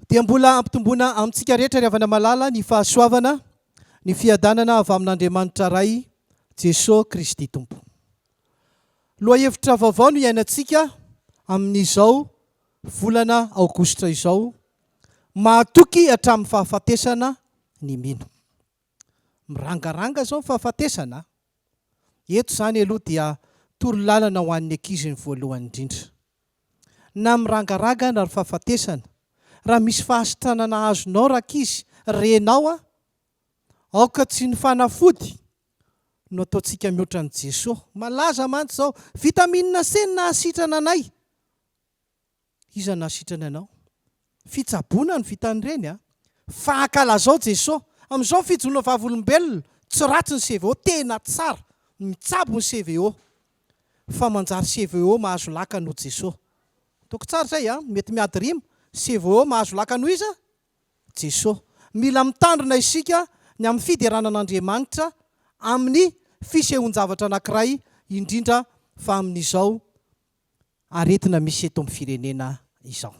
Dia mbola hampitomboana amintsika rehetra ry havana malala ny fahasoavana, ny fiadanana avy amin'Andriamanitra Ray, Jesoa Kristy Tompo. Lohahevitra vaovao no iainantsika amin'izao volana aogositra izao, mahatoky hatramin'ny fahafatesana ny mino. Mirangaranga izao ny fahafatesana a! Eto izany aloha dia torolalana ho an'ny ankizy ny voalohany indrindra. Na mirangaraga na ry fahafatesana, raha misy fahasitranana azonao rankizy, renao a! Aoka tsy ny fanafody no ataontsika mihoatra an'i Jesoa. Malaza mantsy izao, Vitamine C no nahasitrana anay. Iza nahasitrany anao? Fitsaboana no vitan'ireny a! Fa ankalazao Jesoa! Amin'izao fijonoana vavolombelona, tsy ratsy ny CVO, tena tsara! Mitsabo ny CVO! Fa manjary CVO mahazo lakana ho Jesoa! Toko tsara izay a! Mety miady rima, CVO mahazo lakana ho iza? Jesoa! Mila mitandrina isika ny amin'ny fiderana an'Andriamanitra amin'ny fisehoan-javatra anankiray indrindra fa amin'izao aretina misy eto amin'ny firenena izao.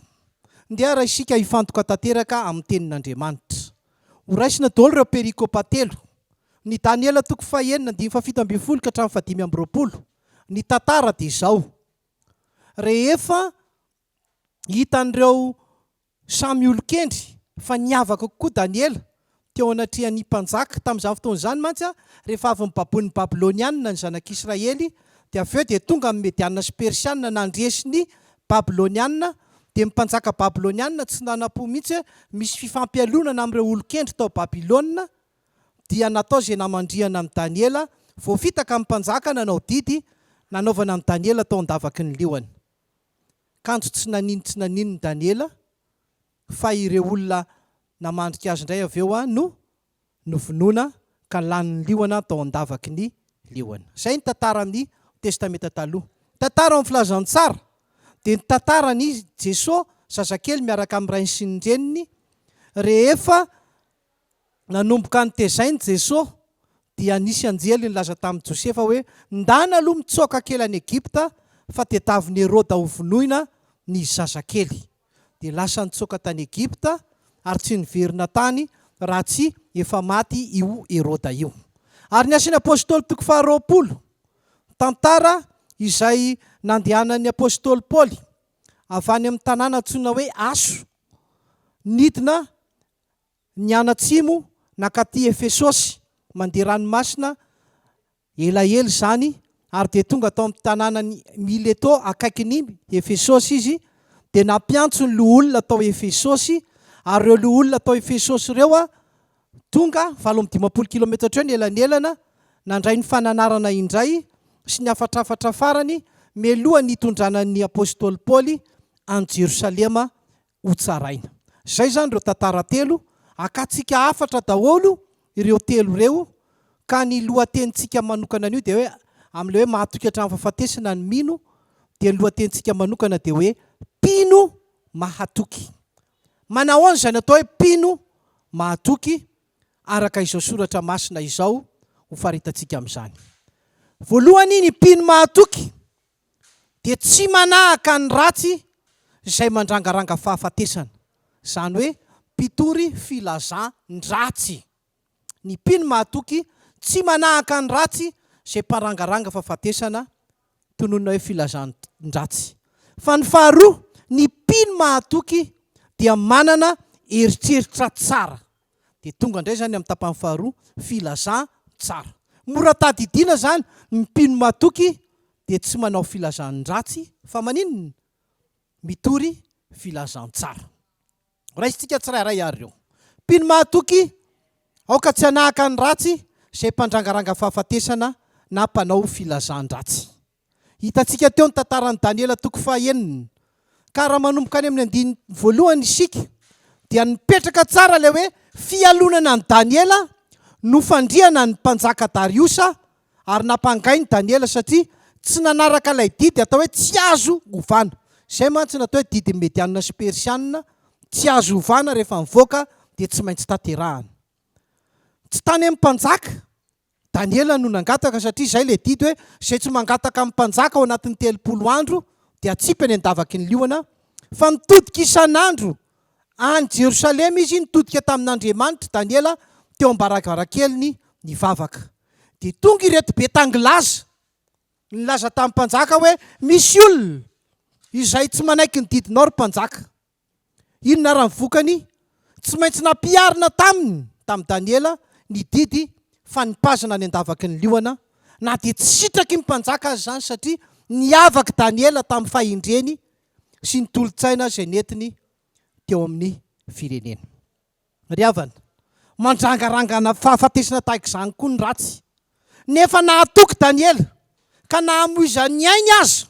Ndeha ary isika hifantoka tanteraka amin'ny Tenin'Andriamanitra. Horaisina daholo ireo perikopa telo, ny Daniela toko fahenina andininy fahafito ambin'ny folo ka hatramin'ny fahadimy amby roapolo. Ny tantara dia izao, rehefa hitan'ireo Samy olon-kendry, fa niavaka kokoa Daniela, teo anatrehan'ny mpanjaka. Tamin'izany fotoana izany mantsy, rehefa avy nobaboin'ny Babylonianina ny zanak'Israely, dia avy eo dia tonga ny Medianina sy Persianina nandresy ny Babylonianina, dia ny mpanjaka Babylonianina tsy nanam-po mihitsy hoe misy fifampialonana amin'ireo olon-kendry tao Babylona, dia natao izay namandrihana amin'i Daniela, voafitaka ny mpanjaka nanao didy nanaovana an'i Daniela tao an-davaky ny liona. Kanjo tsy nanino tsy nanino ny Daniela fa ireo olona namandrika azy indray avy eo no novonoina ka lany ny liona tao an-davaky ny liona. Izay ny tantara amin'ny Testamenta Taloha. Ny tantara ao amin'ny Filazantsara dia ny tantaran'i Jesoa zazakely miaraka amin'ny rainy sy ny reniny rehefa nanomboka notezain'i Jeso, dia nisy anjely nilaza tamin'i Josefa hoe, Ndana aloha mitsoaka kely any Egypta fa tetavin'i Heroda hovonoina ny zazakely. Dia lasa nitsoaka tany Egypta ary tsy niverina tany raha tsy efa maty io Heroda io. Ary ny Asan'ny Apostoly toko faharoapolo, tantara izay nandehanan'ny Apostoly Paoly avy any amin'ny tanàna antsoina hoe Aso nidina nianatsimo nankaty Efesosy mandeha ranomasina elaela izany ary dia tonga tao amin'ny tanànan'i Mileto akaikin'i Efesosy izy, dia nampiantso ny loholona tao Efesosy, ary ireo loholona tao Efesosy ireo tonga valo amby dimampolo kilometatra eo ny elanelana, nandray ny fananarana indray sy ny hafatrafatra farany mialoha ny hitondrana ny apostoly Paoly any Jerosalema ho tsaraina. Izay izany ireo tantara telo, akantsika hafatra daholo ireo telo ireo ka ny lohatenintsika manokana anio dia hoe amin'ilay hoe mahatoky hatramin'ny fahafatesana ny mino dia ny lohatenintsika manokana dia hoe mpino mahatoky. Manahoana izany atao hoe mpino mahatoky araka izao soratra masina izao ho faritantsika amin'izany. Voalohany ny mpino mahatoky. dia tsy manahaka ny ratsy izay mandrangaranga fahafatesana, izany hoe mpitory filazan-dratsy. Ny mpino mahatoky tsy manahaka ny ratsy izay mparangaranga fahafatesana, tononina hoe filazan-dratsy. Fa ny faharoa, ny mpino mahatoky dia manana eritreritra tsara. Dia tonga indray izany amin'ny tapany faharoa, filazantsara. Mora tadidiana izany, ny mpino matoky dia tsy manao filazandratsy fa maninona? Mitory filazantsara. Raisintsika tsirairay ary ireo. Mpino mahatoky, aoka tsy hanahaka ny ratsy izay mpandrangaranga fahafatesana na mpanao filazandratsy. Hitantsika teo ny tantaran'i Daniela toko fahenina. Ka raha manomboka any amin'ny andininy voalohany isika dia nipetraka tsara ilay hoe fialonana an'i Daniela no fandriana ny mpanjaka Dariosa ary nampangainy Daniela satria tsy nanaraka ilay didy atao hoe tsy azo ovana. Izay mantsy no atao hoe didin'ny Medianina sy Persianina, tsy azo ovana rehefa nivoaka dia tsy maintsy tanterahana. Tsy tany amin'ny mpanjaka Daniela no nangataka satria izay ilay didy hoe, izay tsy mangataka amin'ny mpanjaka ao anatin'ny telopolo andro dia atsipy any an-davaky ny liona, fa nitodika isan'andro any Jerosalema izy, nitodika tamin'Andriamanitry Daniela teo am-baravarankeliny nivavaka. Dia tonga ireto be tangilaza, nilaza tamin'ny mpanjaka hoe, Misy olona izay tsy manaiky ny didinao ry mpanjaka. Inona ary ny vokany? Tsy maintsy nampiharina taminy, tamin'i Daniela, ny didy fanipazana any an-davaky ny liona, na dia tsy sitraky ny mpanjaka aza izany, satria niavak'i Daniela tamin'ny fahendreny sy ny tolo-tsaina izay nentiny teo amin'ny firenena. Ry havana, mandrangarangana fahafatesana tahaka izany koa ny ratsy. Nefa nahatoky Daniela, ka na hamoizan'ny ainy aza,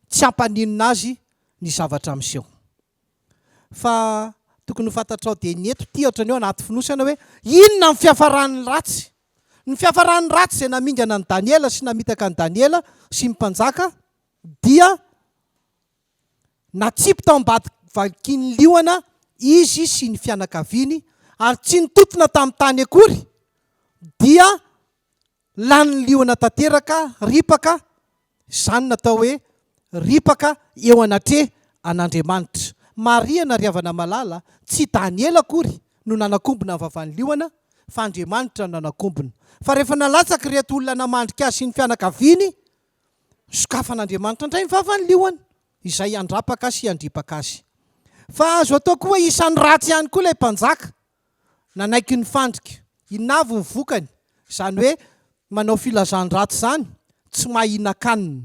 tsy hampaninona azy ny zavatra miseho. Fa tokony ho fantatrao dia ny eto ity ohatran'ny hoe anaty fonosana hoe inona ny fiafaran'ny ratsy. Ny fiafaran'ny ratsy izay namingana an'i Daniela sy namitaka an'i Daniela sy ny mpanjaka dia. Natsipy tao ambadika valikin'ny liona izy sy ny fianakaviany ary tsy nitontona tamin'ny tany akory dia lanin'ny liona tanteraka ripaka, izany natao hoe ripaka eo anatre an'Andriamanitra. Marihana ry havana malala, tsy Daniela akory no nanakombona ny vavan'ny liona fa Andriamanitra no nanakombona. Fa rehefa nalatsaky ireto olona namandrika azy sy ny fianakaviany, Sokafan'Andriamanitra indray ny vavan'ny liona izay handrapaka sy handripaka azy. Fa azo atao koa hoe isan'ny ratsy ihany koa ilay mpanjaka nanaiky ny fandrika. Inona avy ny vokany? Izany hoe manao filazan-dratsy izany tsy mahinan-kanina.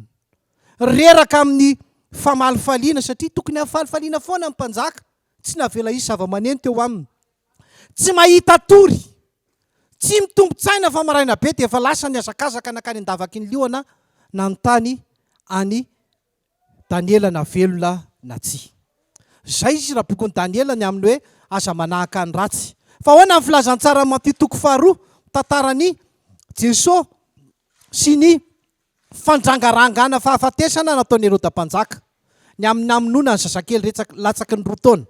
Reraka amin'ny famalifaliana satria tokony hahalifaliana foana ny mpanjaka, tsy navela hisy zava-maneno teo aminy. Tsy mahita tory. Tsy mitombin-tsaina fa maraina be dia efa lasa nihazakazaka nankany an-davaky ny liona nanontany an'i Daniela na velona na tsia. Izay izy raha bokin'i Daniela ny amin'ny hoe aza manahaka ny ratsy. Fa ahoana ny filazantsaran'i Matio toko faharoa mitantara an'i Jesoa sy ny Fandrangarangana fahafatesana nataon'i Heroda Mpanjaka, ny amin'ny namonoana ny zazakely retsaka latsaky ny roa taona.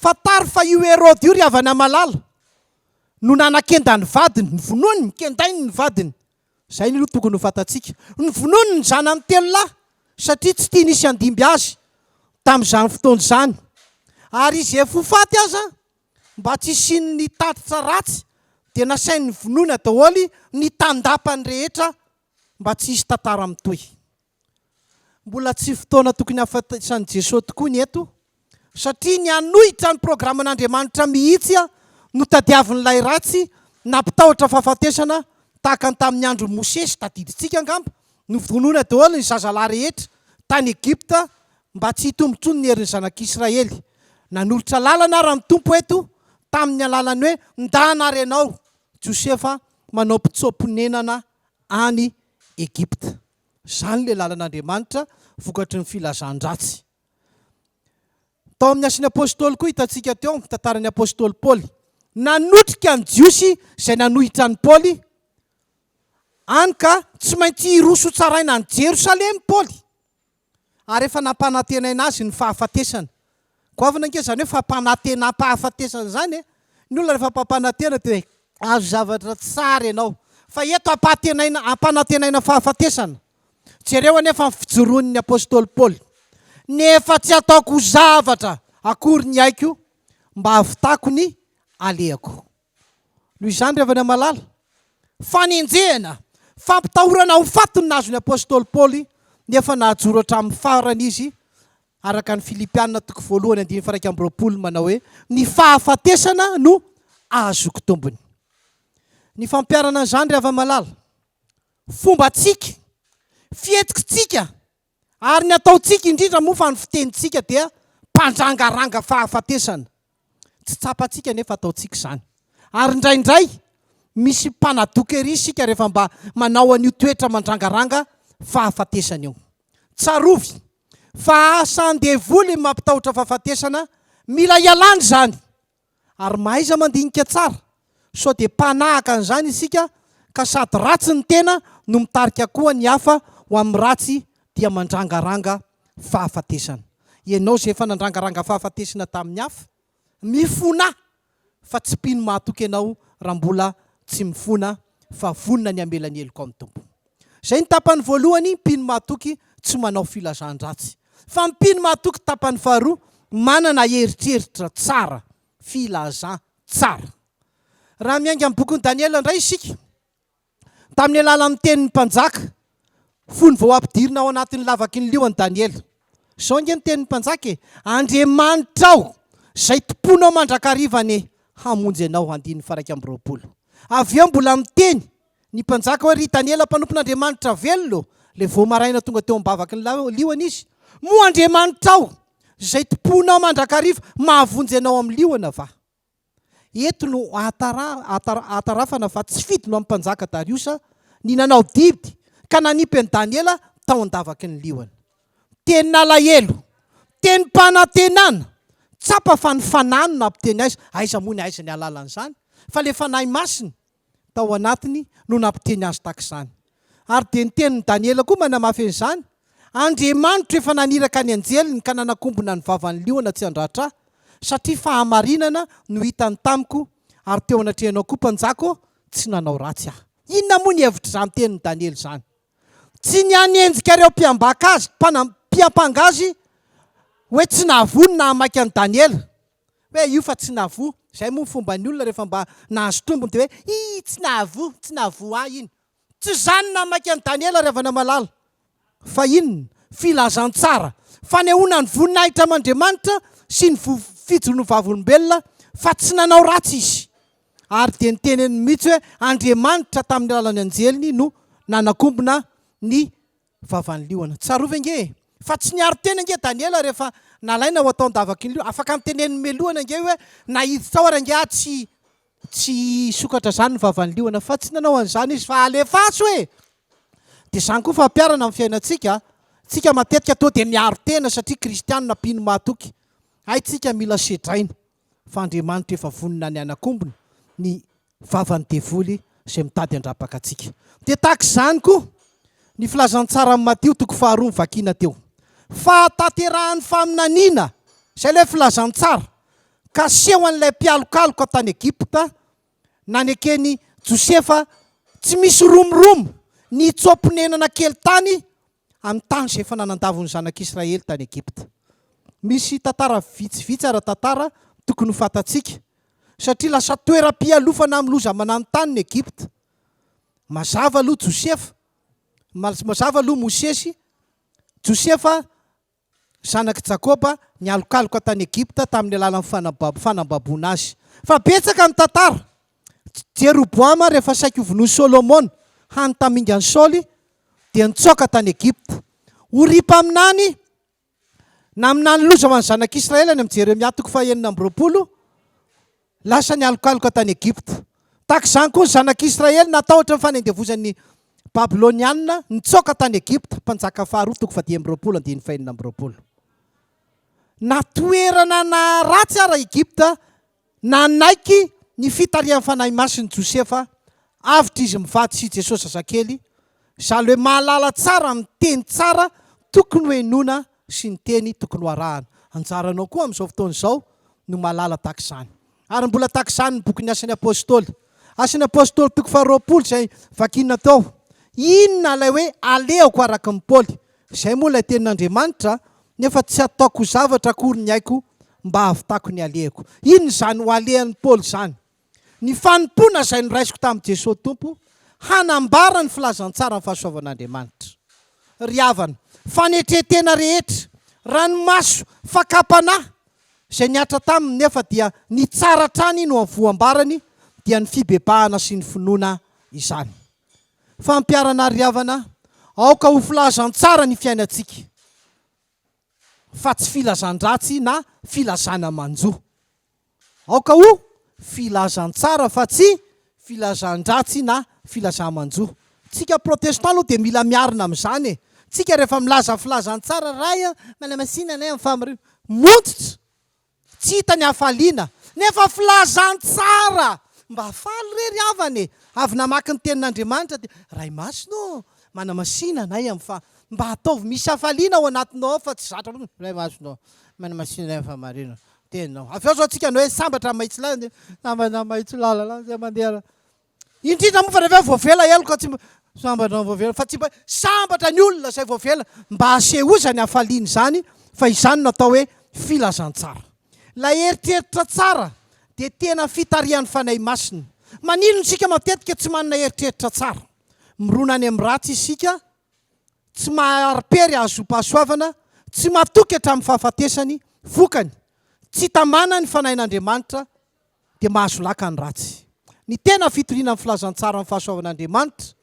Fantaro fa io Heroda io ry havana malala no nanakenda ny vadiny, novonoiny, nokendainy ny vadiny. Izay no tokony ho fantatsika. Novonoiny ny zanany telo lahy satria tsy tiany hisy handimby azy tamin'izany fotoana izany. Ary izy efa ho faty aza, mba tsy hisian'ny tatitra ratsy dia nasainy novonoina daholo ny tandapany rehetra mba tsy hisy tantara mitohy. Mbola tsy fotoana tokony hahafantatran'i Jesoa tokoa ny eto, satria ny hanohitra ny programan'Andriamanitra mihitsy no tadiavin'ilay ratsy nampitahotra fahafatesana tahaka ny tamin'ny andron'i Mosesy, tadidintsika angamba, novonoina daholo ny zazalahy rehetra tany Egypta mba tsy hitombo intsony ny herin'ny zanak'Israely. Nanolotra lalana ara ny Tompo eto tamin'ny alalan'ny hoe, Ndana ary ianao, Josefa, manao mpitsoa-ponenana any Egypta. Izany ilay lalan'Andriamanitra vokatry ny filazan-dratsy. Tao amin'ny Asin'ny Apostoly koa hitantsika teo ny tantaran'ny Apostoly Paoly. Nanotrika ny Jiosy izay nanohitra an'i Paoly, hany ka tsy maintsy hiroso hotsaraina any Jerosalema i Paoly. ary efa nampanantenaina azy ny fahafatesana. Goavana ange izany hoe fampanantenam-pahafatesana izany e! Ny olona rehefa mpampanantena dia hoe azo zavatra tsara ianao, fa eto ampahatenaina, ampanantenaina fahafatesana. Jereo anefa ny fijoroan'ny apostoly Paoly, Nefa tsy ataoko ho zavatra akory ny aiko mba hahavitako ny alehako. Noho izany, ry havana malala, fanenjehana, fampitahorana ho faty no nahazo ny apostoly Paoly, nefa nahajoro hatramin'ny farany izy, araka ny Filipiana toko voalohany andininy faharaika amby roapolo, manao hoe, Ny fahafatesana no ahazoako tombony. Ny fampiharana an'izany, ry hava-malala, fombantsika, fihetsiktsika, Ary ny ataontsika indrindra moa fa ny fitenintsika dia mpandrangàranga fahafatesana. Tsy tsapantsika anefa ataontsika izany. Ary indraindray, misy mpanadoka ery isika rehefa mba manao an'io toetra mandrangaranga fahafatesana io. Tsarovy fa asa an-devoly ny mampitahotra fahafatesana, mila ialàna izany. ary mahaiza mandinika tsara, sao dia mpanahaka an'izany isika ka sady ratsy ny tena no mitarika koa ny hafa ho amin'ny ratsy dia mandrangaranga fahafatesana. Ianao izay efa nandrangaranga fahafatesna tamin'ny hafa, mifona fa tsy mpino mahatoky anao raha mbola tsy mifona fa vonona ny hamela ny helokao amin'ny Tompo. Izay ny tapany voalohany, mpino mahatoky tsy manao filazan-dratsy. Fa ny mpino mahatoky tapany faharoa, manana eritreritra tsara, filazan-tsara. Raha miainga amin'ny bokin'i Daniela indray isika, tamin'ny alalan'ny tenin'ny mpanjaka, fony vao ampidirina ao anatin'ny lavaky ny lio an'i Daniela. Izao ange ny tenin'ny mpanjaka e, Andriamanitra aho, izay tompoinao mandrakariva anie, hamonjy anao, andininy faha iraika amby roapolo. Avy eo mbola miteny. Ny mpanjaka hoe, Ry Daniela mpanompon'Andriamanitra velona ô! Ilay vao maraina tonga teo am-bavaky ny liona izy, Moa Andriamanitrao, izay tompoinao mandrakariva, mahavonjy anao amin'ny liona va? Eto no ahatarafana fa tsy fidiny ho an'ny mpanjaka Dariosa ny nanao didy ka nanipy an'i Daniela tao an-davaky ny liona. Tenin'alahelo! Tenim-panantenana! Tsapa fa ny fanahy no nampiteny azy, aiza moa ny aiziny hahalala an'izany fa ilay Fanahy Masina tao anatiny no nampiteny azy tak'izany. Ary dia ny tenin'i Daniela koa manamafy an'izany, Andriamanitro efa naniraka ny anjeliny ka nanakombona ny vavan'ny liona tsy handratra ahy, satria fahamarinana no hitany tamiko, ary teo anatrehanao koa, mpanjaka ô, tsy nanao ratsy aho. Inona moa ny hevitr'izany tenin'i Daniela izany? Tsy ny hanenjika ireo mpiambaka azy, mpiampanga azy, hoe tsy nahavoa ny naha maika an'i Daniela. Hoe io fa tsy navoa, izay moa ny fomban'ny olona rehefa mba nahazo tombony dia hoe ii tsy nahavoa, tsy nahavoa ahy iny. Tsy izany na maika an'i Daniela ry havana malala. Fa inona? Filazantsara, fanehoana ny voninahitra aman'Andriamanitra sy ny vofijon' ny vavolombelona fa tsy nanao ratsy izy. Ary dia niteneniny mihitsy hoe Andriamanitra tamin'ny alalan'ny anjeliny no nanakombona ny vavan'ny liona. Tsarovy ange e! Fa tsy niaro tena ange Daniela rehefa nalaina ho atao an-davaky ny liona. Afaka niteneniny mialoha ange hoe na hiditra ao ary ange aho tsy tsy hisokatra izany ny vavan'ny liona. Fa tsy nanao an'izany izy fa alefaso e! Dia izany koa fampiharana amin'ny fiainantsika. Isika matetika toa dia miaro tena satria kristianina mpino mahatoky. Hay tsika mila sedraina. fa Andriamanitra efa vonona ny hanakombona ny vavan'ny devoly izay mitady handrapaka antsika. Dia tahaka izany koa ny filazantsara amin'ny Matio toko faharoa novakiana teo. Fahatanterahan'ny faminaniana izay ilay filazantsara, ka seho an'ilay mpialokaloka tany Egypta naneken'i Josefa tsy misy romoromo nitsoa-ponenana kely tany amin'ny tany izay efa nanandavo ny zanak'Israely tany Egypta. Misy tantara vitsivitsy ara-tantara tokony ho fantatsika, satria lasa toeram-pialofana amin'ny loza mananontany ny Egypta. Mazava aloha Josefa, mazava aloha Mosesy, Josefa zanak'i Jakoba, nialokaloka tany Egypta tamin'ny alalan'ny fanambaboana azy. Fa betsaka ny tantara. Jeroboama, rehefa saiky ho vonoin'i Solomona, hany tamingan'i Saoly, dia nitsoaka tany Egypta. Oria mpaminany, naminany loza ho an'ny zanak'Israely any amin'i Jeremia toko fahenina amby roapolo, Lasa nialokaloka tany Egypta. Tahaka izany koa ny Zanak'Israely natahotra ny fanendevozan'ny Babylonianina nitsoaka tany Egypta, Mpanjaka faharoa toko faha dimy amby roapolo andininy faha enina amby roapolo. Na toerana naharatsy ara Egypta nanaiky ny fitarihan'ny Fanahy Masin'i Josefa avotra izy mivady sy i Jesosy zazakely, Izaho ilay mahalala tsara ny teny tsara tokony ho henoina sy ny teny tokony ho arahana. Anjaranao koa amin'izao fotoana izao no mahalala tahaka izany. Ary mbola tahaka izany ny bokin'ny Asan'ny Apôstôly. Asan'ny Apôstôly toko faharoapolo izay vakina tao. Inona ilay hoe alehako araka an'i Paoly? Izay moa ilay tenin'Andriamanitra, nefa tsy ataoko zavatra akory ny aiko mba hahavitako ny alehako. Inona izany ho alehan'i Paoly izany? Ny fanompoana izay noraisiko tamin'i Jesoa Tompo hanambara ny filazantsaran'ny fahasoavan'Andriamanitra. Ry havana, fanetren-tena rehetra, ranomaso, fakam-panahy izay nihatra taminy nefa dia nitsara hatrany no voambarany dia ny fibebahana sy ny finoana izany. Fampiharana ary ry havana, aoka ho filazantsara ny fiainantsika fa tsy filazan-dratsy na filazana manjo. Aoka ho filazantsara fa tsy filazandratsy na filazamanjo. Tsika protestant aloha dia mila miarina amin'izany e! Tsika rehefa milaza filazantsara, Ray an, manamasina anay amin'ny fahamariana. Montitra! Tsy hita ny hafaliana. Nefa filazantsara! Mba faly re ry havana e! Avy namaky ny tenin'Andriamanitra dia, Ray masina ô, manamasina anay amin'ny faha. Mba ataovy misy hafaliana ao anatinao ao fa tsy zatra fotsiny, Ray masina ô, manamasina anay amin'ny fahamarinana. teninao. Avy eo izao tsika no hoe sambatra amin'ny mahitsy lalana dia sambatra amin'ny mahitsy lalana izay mandeha. Indrindra moa fa rehefa voavela heloka tsy mba sambatra amin'ny voavela fa tsy mba sambatra ny olona izay voavela mba asehozany hafaliany izany fa izany no atao hoe filazantsara. Ilay eritreritra tsara dia tena fitarihan'ny Fanahy Masina. Maninona isika matetika tsy manana eritreritra tsara? Mirona any amin'ny ratsy isika tsy maha-aripèry hahazom-pahasoavana, tsy matoky hatramin'ny fahafatesany, vokany, tsy tamana ny fanahin'Andriamanitra, dia mahasolaka ny ratsy. Ny tena fitoriana ny filazantsara ny fahasoavan'Andriamanitra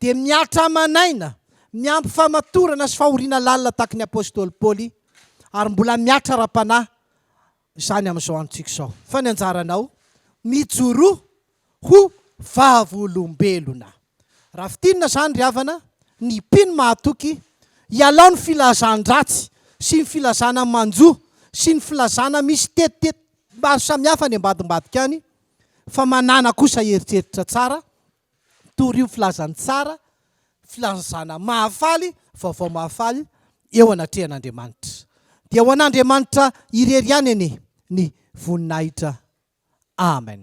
dia mihatra aman'aina, miampy famatorana sy fahoriana lalina tahaky ny Apostoly Paoly, ary mbola mihatra ara-panahy, izany amin'izao androntsika izao. Fa ny anjaranao, mijoroa ho vavolombelona. Raha fintinina izany ry havana, ny mpino mahatoky, ialao ny filazan-dratsy sy ny filazana manjo sy ny filazana misy tetitety maro samihafa any ambadimbadika any, fa manàna kosa eritreritra tsara, Torio filazany tsara, filazana mahafaly, vaovao mahafaly eo anatrehan'Andriamanitra. Dia ho an'Andriamanitra irery ihany anie ny voninahitra. Amen.